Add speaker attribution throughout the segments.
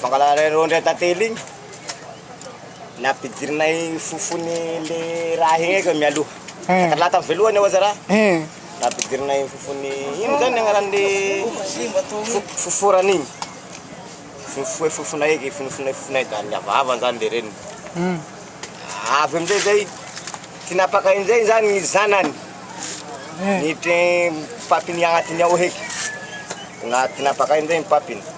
Speaker 1: Fangalana ireo indray tantely iny, nampidirinay fofony le raha iny eky mialoha. Tantara lahy tamin'ny voalohany ohatra raha. Nampidirinay fofony, ino zany ny agnaran'le fofo foforana iny. Fofoe fofona eky, fonofonoe fofona eky, da niavahava zany le reniny. Avy am'zay zay, tinapaka am'zay zany ny zanany, niditra ny papiny agnatiny ao heky, na tinapaka am'zay ny papiny.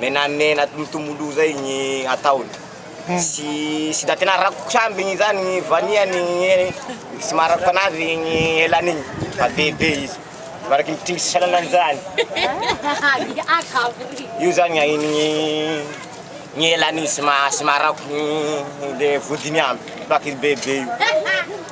Speaker 1: Menamena tomotolo zay gny ataony sy tsy da tena rakotra aby igny zany gny vanillany igny tsy maha rakotra anazy igny elany igny fa be be izy mivaraky ny mpitringy sasany anany zany io zany gny ahinigny gny elany igny tsy maha tsy maha rakotra gny le vodiny aby vaky izy be be io.